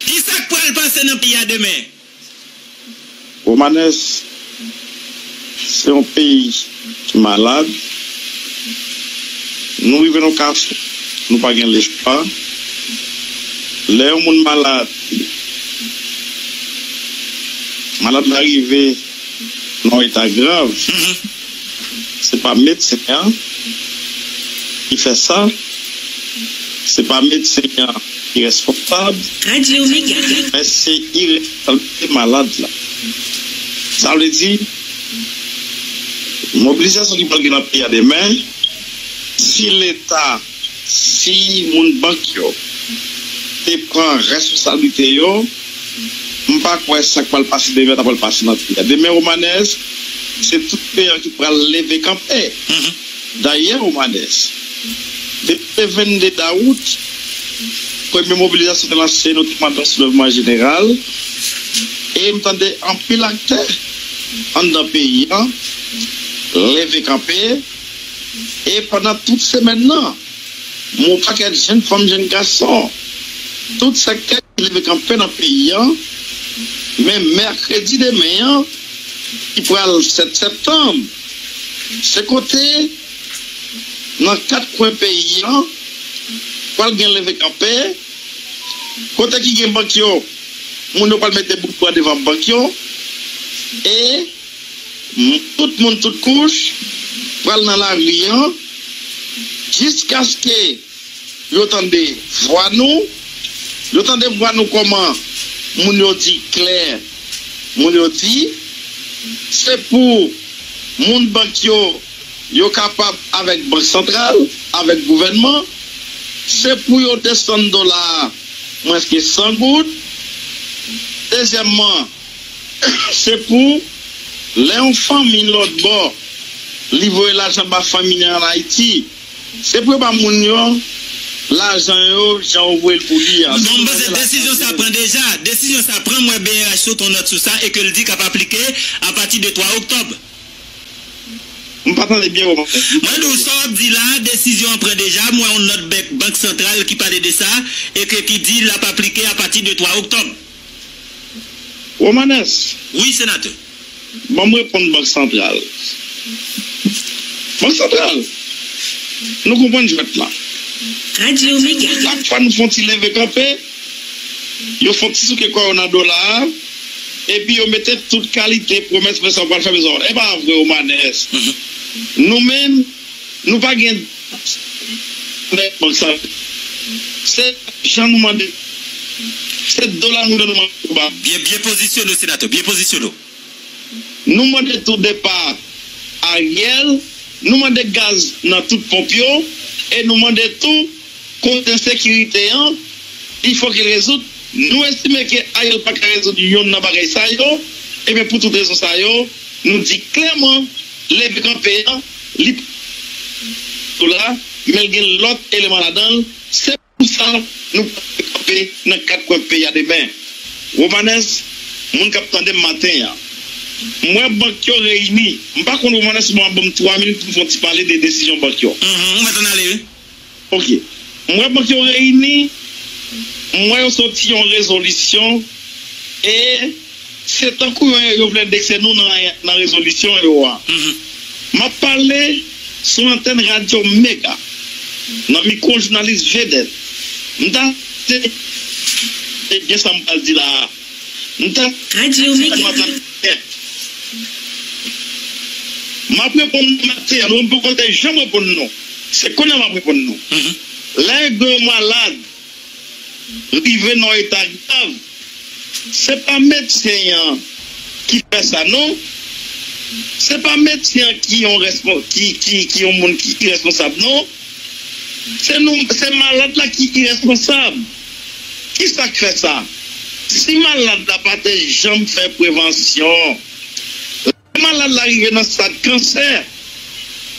Ki sa k pral pase nan peyi a demen? Romanes se yon peyi ki malad, nou rive nan yon kafou nou pa gen lespwa, lè yon moun malad, malad la rive. nan eta grav se pa medsen an ki fè sa se pa medsen an ki responsab men se iresponsabilite malad la sa vle di mobilizasyon ki pral gen nan peyi a demen si leta. Si moun bank yo te pran responsablite yo, m pa kwè sa k pral pase demen ta pral pase nan peyi a. Demen Romanès, se tout peyi an ki pral leve kanpe. Dayè Romanès, depi le 22 dawout, premye mobilizasyon te lanse, nou te mande yon soulèvman jeneral e m tande anpil aktè anndan peyi an leve kanpe. E pandan tout semèn nan, yon pakèt jenn fanm, jenn gason, tout sektè ki leve kanpe nan peyi an, men mèkredi demen an ki pral 7 septanm, se kote nan 4 kwen peyi an pral gen leve kanpe, kote ki gen bank yo, moun yo pral mete boutba devan bank yo e. Tout moun tout kouch pral nan lari an jiskaske yo tande vwa nou. Yo tande vwa nou kòman moun yo di klè moun yo di se pou moun bank yo yo kapab avèk bank santral avèk gouvènman se pou yo desann dola a mwens ke 100 goud. Dezyèmman. Se pou lè yon fanmi lòt bò li voye lajan ba fanmi li an Ayiti, se pou yo ba moun yo lajan yo jan yo voye l pou li an. Bon, m panse desizyon sa pran deja. Desizyon sa pran, m wè brh sot yon nòt sou sa e ke l di k ap aplike apati de 3 oktòb. M pa tande byen ou pale. Mwen di w, sa w ap di la a, desizyon an pran deja, m wè yon nòt bèk Bank Santral ki pale de sa e ke ki di l ap aplike apati de 3 oktòb. Romanès. Wi, senatè. Ban m reponn Bank Santral. Bank Santral! Nou konprann jwèt lan. Radyo Omega. Chak fwa nou fon ti leve kanpe, yo fon ti souke kò yo nan dola a, epi yo mete tout kalite pwomès men sa ou pral fè men sa ou. Epa vre Romanès. Nou menm. Nou pa gen dwa sèlman bay kòb san rete. Se lajan nou mande yo. Se dola nou vle nou mande yo ba nou. Byen byen pozisyone w senatè, byen pozisyone w. Nou mande tou depa Ariel, nou mande gaz nan tout ponp yo e nou mande tou. Kont ensekirite an, il fò ki rezoud. Nou estime ke Ariel pa ka rezoud yonn nan bagay sa yo, ebyen pou tout rezon sa yo, nou di klèman leve kanpe an li pa sou la, men l gen lòt eleman ladan l, se pou sa nou pral leve kanpe nan 4 kwen peyi a demen. Romanes, Moun k ap tande m maten an, m wè bank yo reyini, m pa konn Romanes ou pa ban m 3 minit pou m fè yon ti pale de desizyon bank yo. Uhmm, ou mèt ann ale wi. Ok. M wè bank yo reyini, m wè yo soti yon rezolisyon e se tankou yo yo vle endekse nou nan nan rezolisyon yo a. M ap pale sou antèn radyo Mega, nan mikwo jounalis vedèt. M ta se e byen sa m pral di la a. M ta Radio Mega. M ap reponn maten an non m poko te janm reponn non se konya m ap reponn non lè yon malad rive nan eta grav se pa medsen an ki fè sa non se pa medsen an ki yon ki yon moun ki iresponsab non se nou se malad la ki iresponsab. Kisa k fè sa? Si malad la pa te janm fè prevansyon, lè malad la rive nan stad kansè,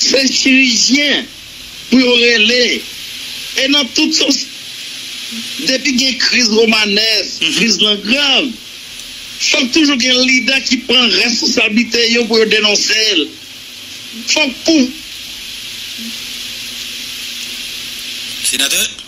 se chirijyen pou yo rele. E nan tout sans, depi gen kriz Romanès, kriz lan grav, fòk toujou gen lidè ki pran responsablite yo pou yo denonse l. Fòk pou. Senatè?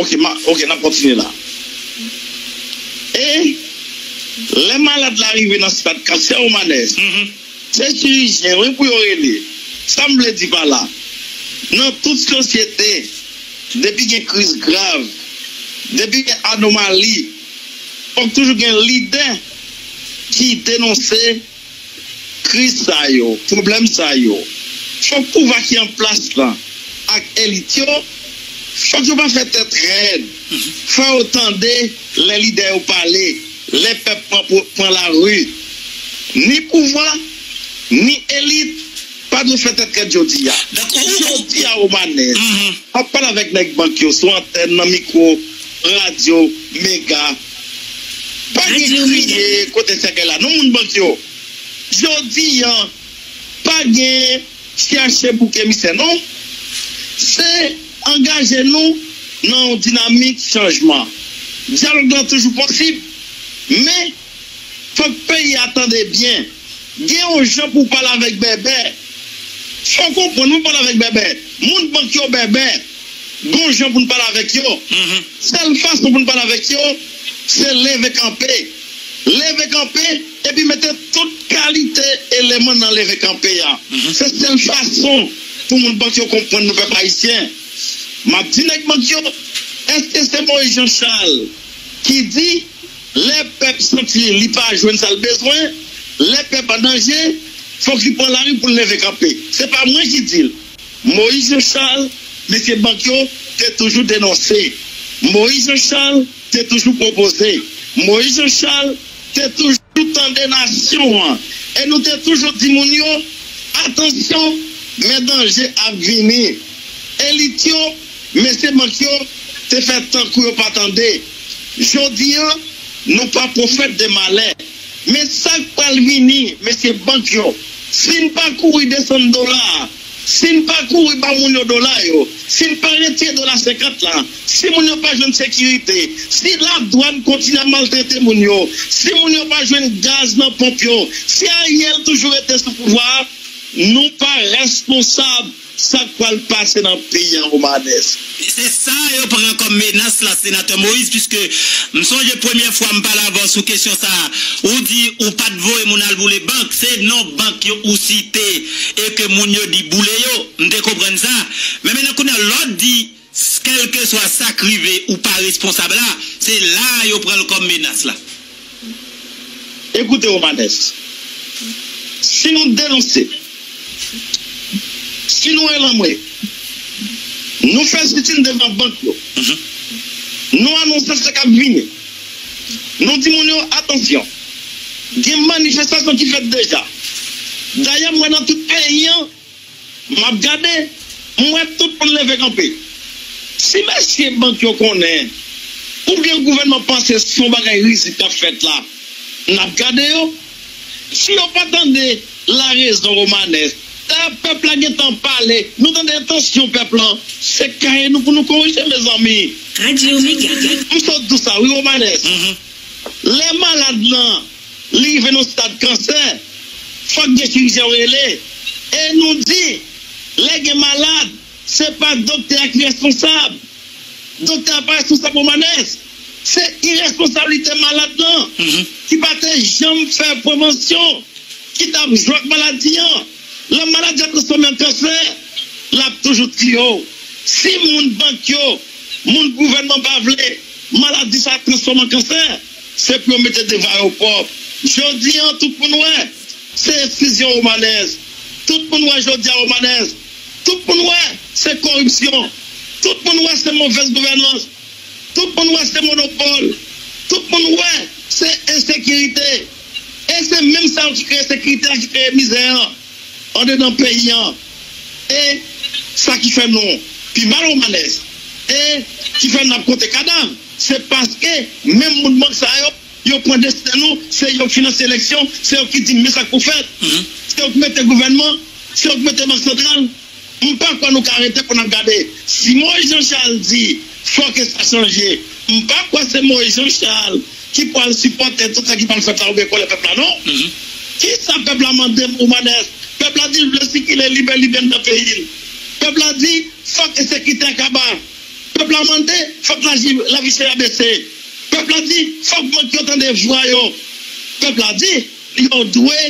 Ok, map, ok, nap kontinye la. E, lè malad la rive nan stad kansè ou manè, se chirijyen wi pou yo rele. Sa m vle di pa la, nan tout sosyete, depi gen kriz grav, depi gen anomali, fòk toujou gen lidè ki denonse. kriz sa yo, pwoblèm sa yo, fòk pouvwa ki an plas lan ak elit yo, fòk yo pa fè tèt rèd, fò yo tande lè lidè yo pale, lè pèp pran lari. Ni pouvwa, ni elit pa dwe fè tèt rèd jodi a. Jodi a Romanès ap pale avèk nèg bank yo sou antèn nan mikwo radyo Mega. Bandi kriye kote sèkèy la non moun bandi yo jodi an pa gen chèche bouk emisè non se angaje nou nan yon dinamik chanjman dyalòg lan toujou posib men fòk peyi a tande byen. Gen yon jan pou w pale avèk bèbè. Fò w konprann wi pale avèk bèbè. Moun bank yo bèbè. Gon jan pou n pale avèk yo. Sèl fason pou n pale avèk yo se leve kanpe. Leve kanpe epi mete tout kalite eleman nan leve kanpe a. Se sèl fason pou moun bank yo konprann nou pèp ayisyen. M ap di nèg bank yo, èske se Moyiz Janchal ki di. Lè pèp santi li pa jwenn sa l bezwen, lè pèp an danje, fòk li pran lari pou l leve kanpe. Se pa mwen ki di l. Moïse Jean Charles, mesye bank yo te toujou denonse. Moïse Jean Charles te toujou pwopoze. Moïse Jean Charles te toujou tande nasyon an. E nou te toujou di moun yo, Atansyon, men danje ap vini. Elit yo. Mesye mank yo te fè tankou yo pa tande. Jodi an, nou pa pwofèt de malè. Men sa k pral vini, mesye bank yo, si n pa kouri desann dola a, si n pa kouri ba moun yo dola yo, si n pa retire dola 50 la, si moun yo pa jwenn sekirite, si ladwàn kontinye ap maltrete moun yo, si moun yo pa jwenn gaz nan ponp yo, si Ariel toujou rete sou pouvwa a, nou pa responsab. Sak pral pase nan peyi an Romanès? Se sa yo pran kòm menas la Senatè Moïse puiske m sonje premyè fwa m pale avè w sou kesyon sa a ou di ou pa t voye moun al boule bank se non bank yo ou site e ke moun yo di boule yo m te konprann sa men mennen kounye a lè w di S kèlkeswa sa k rive ou pa responsab la, se la a yo pran l kòm menas la. Ekoute Romanes, si nou denonse, si nou elanmwe, nou fè sitin devan bank yo, nou anonse sa k ap vini, nou di moun yo atansyon, gen manifestasyon ki fèt deja. Dayè m wè nan tout peyi an. M ap gade, m wè tout moun leve kanpe. Si mesye bank yo konnen, oubyen gouvènman panse se yon bagay rizib k ap fèt la, n ap gade yo. Si yo pa tande larezon Romanè, dayè pèp la gen tan pale, nou tande entansyon pèp lan, se kaye nou pou nou korije mezanmi. Radio Mega. M sot di w sa wi Romanè, lè malad lan. Li rive nan stad kansè. Fòk gen chirijyen yo rele. E nou di, lè gen malad, se pa doktè a ki responsab. Doktè a pa responsab Romanes. Se iresponsablite malad lan ki pa te janm fè prevansyon, ki t ap jwe ak maladi an. Lè maladi a transfòme an kansè, l ap toujou tiye w. Si moun bank yo, moun gouvènman pa vle maladi sa a transfòme an kansè. Se pou yo mete devan yo pwòp. Jodi an tout moun wè. Se esklizyon Romanès. Tout moun wè jodi a Romanès. Tout moun wè se koripsyon. Tout moun wè se movèz gouvènans. Tout moun wè se monopòl. Tout moun wè se ensekirite. E se menm sa yo ki kreye sekirite a ki kreye mizè an. andedan peyi an e sa ki fè nou pi mal ou malèz e ki fè nap konte kadav se paske menm moun bank sa yo yo pran desten nou se yo ki finanse eleksyon se yo ki di men sak pou fèt se yo ki mete gouvènman se yo ki mete bank santral. M pa kwè nou ka rete pou n ap gade. Si Moïse Jean Charles di fò ke sa chanje, m pa kwè se Moïse Jean Charles ki pwal sipòte tout sa ki pwal fèt la oubyen kole pèp la non. Kisa pèp la mande m Oumanes? Pèp la di l vle sikile libè libè anndan peyi l. Pèp la di fòk ensekite a kaba. Pèp la mande fòk laji lavi chè a bese. Pèp la di fòk bank yo tande vwa yo. Pèp la di yo dwe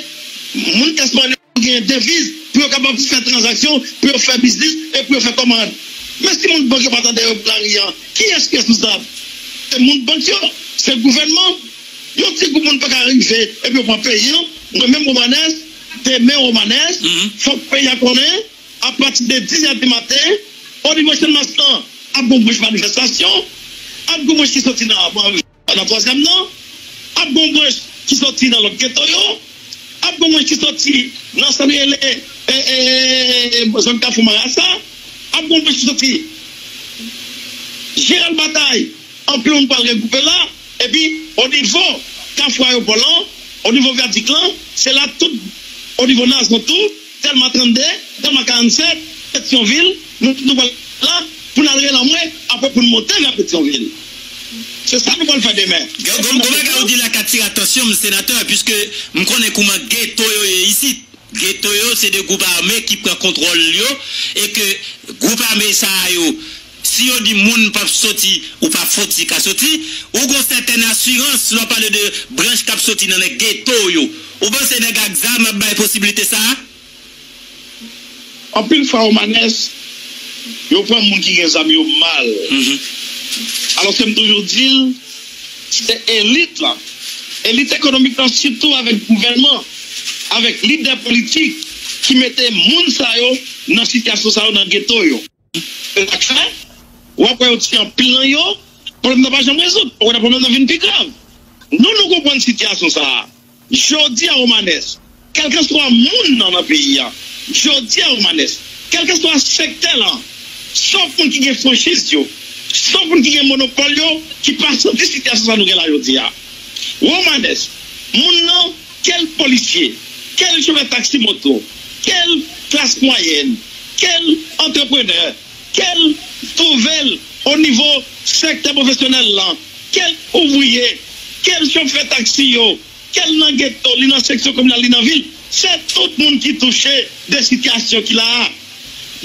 moun Espanyo. Yo genyen deviz pou yo kapab fè tranzaksyon, pou yo fè biznis e pou yo fè kòmand. Men si moun bank yo pa ta dèyè yo pou lari an, kiyès ki responsab? Se moun bank yo? Se gouvènman? Yon ti gwoup moun pa ka rive epi yo pran peyi an. Mwen menm Romanès, demen Romanès, fòk peyi a konnen, apati de 10 è di maten, onivo Channmas lan, ap gon bouch manifestasyon, ap gon bouch ki soti nan. Pandan twazyèm nan, ap gen yon branch ki soti nan lòt geto yo, ap gen yon branch ki soti nan sa nou rele zòn Kafou Marasa, ap gen yon branch ki soti Jeneral Batay, anpil moun pral regwoupe la, epi onivo Kafou Ayopò lan, onivo vyadik lan, se la tout onivo Nazon tou. Delma 32, Delma 47, Petyonvil, Nou tout nou pral la pou n al relanmwe apre pou n monte vè Petyonvil. Se sa nou pral fè demen. Gen yon gwo bagay ou di la k atire atansyon m, senatè, piske m konnen kouman geto yo ye isit. Geto yo se 2 gwoup ame ki pran kontwòl yo e ke gwoup ame sa a yo, Si yo di moun p ap soti ou pa foti ka soti, ou gen yon sètèn asirans lè w pale de branch k ap soti nan nèg geto yo. Ou panse nèg ak zam ap bay posibilite sa a? Anpil fwa Romanes, yo pran moun ki gen zam yo mal. Alòske m toujou di l, se elit la, elit ekonomik la sitou avèk gouvènman, avèk lidè politik ki mete moun sa yo nan sitiyasyon sa yo nan geto yo. Se sa k fè, w ap wè yo tiye anpil nan yo, pwoblèm nan pa janm rezoud. Okontrè, pwoblèm nan vin pi grav. Nou nou konprann sitiyasyon sa a. Jodi a Romanes, kèlkanswa moun nan nan peyi a, jodi a Romanes, kèlkanswa sektè lan, sof moun ki gen franchiz yo, sof moun ki gen monopòl yo ki pa santi sitiyasyon sa a nou gen la jodi a. Romanes, moun nan. Quel policier? Quel chofè taxi moto? Quel classe moyenne? Quel entrepreneur? Quel nouvel au niveau secteur professionnel lan? Quel ouvrier? Quel chofè taxi yo? Quel nan ghetto, li nan section communale, li nan ville? Se tout moun ki touche de situation ki la a.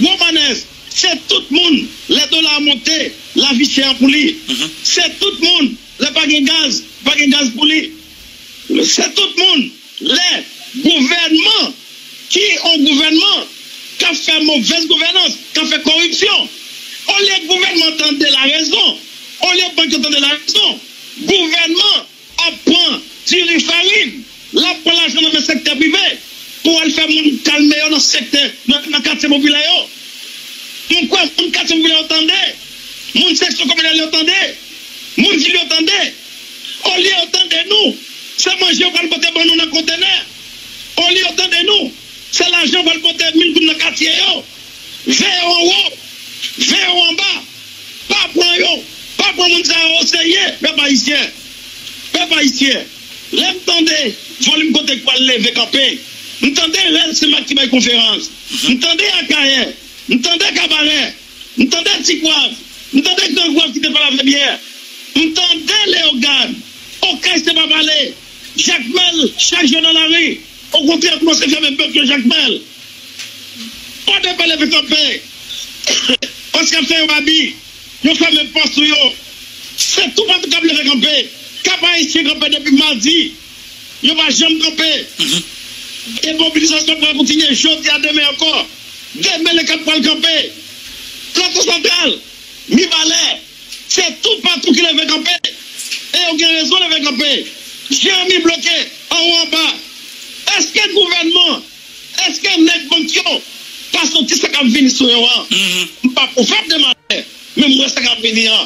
Romanès, se tout moun lè dola a monte, lavi chè an pou li. Se tout moun lè pa gen gaz, pa gen gaz pou li. Se tout moun, lè gouvènman ki on gouvènman k ap fè movèz gouvènans, k ap fè koripsyon. Olye gouvènman tande larezon, olye bank yo tande larezon, gouvènman ap pran diri farin, l ap pran lajan nan men sektè prive pou al fè moun kalme yo nan sektè, nan katye popilè yo. M kwè moun katye popilè yo tande, moun seksyon kominal yo tande, moun vil yo tande. Olye yo tande nou, se manje yo pral pote ban nou nan kontenè. Olye yo tande nou, se lajan yo pral pote vin vin nan katye yo. Veye yo anwo, veye yo anba. Pa pran yo, pa pran moun sa yo oseye, pèp ayisyen. Pèp ayisyen, lè m tande Volim Kote k pral leve kanpe, m tande Rèl Senmak ki bay konferans, m tande Akayè, m tande Kabarè, M tande Ti Kwav, m tande Gran Kwav ki te pale avè m yè, m tande Leogane. Okay se pa pale. Jakmèl chak jou nan lari. Okontrè yo koumanse fèmen bèk yo Jakmèl. Pa de pale vin kanpe. Pòs k ap fè yo abi. Yo fèmen pòs nou yo. Se toupatou k ap leve kanpe. Kap Ayisyen kanpe depi madi. Yo pa janm kanpe. E mobilizasyon an pral kontinye jodi a, demen ankò. Demen le 4 pral kanpe. Plato Santral, Mibalè, se toupatou ki leve kanpe. E yo gen rezon leve kanpe. Jeremi bloke anwo anba. Eske gouvènman, eske nèg bank yo pa santi sa k ap vini sou yo an? M pa pwofèt de malè, men m wè sa k ap vini an.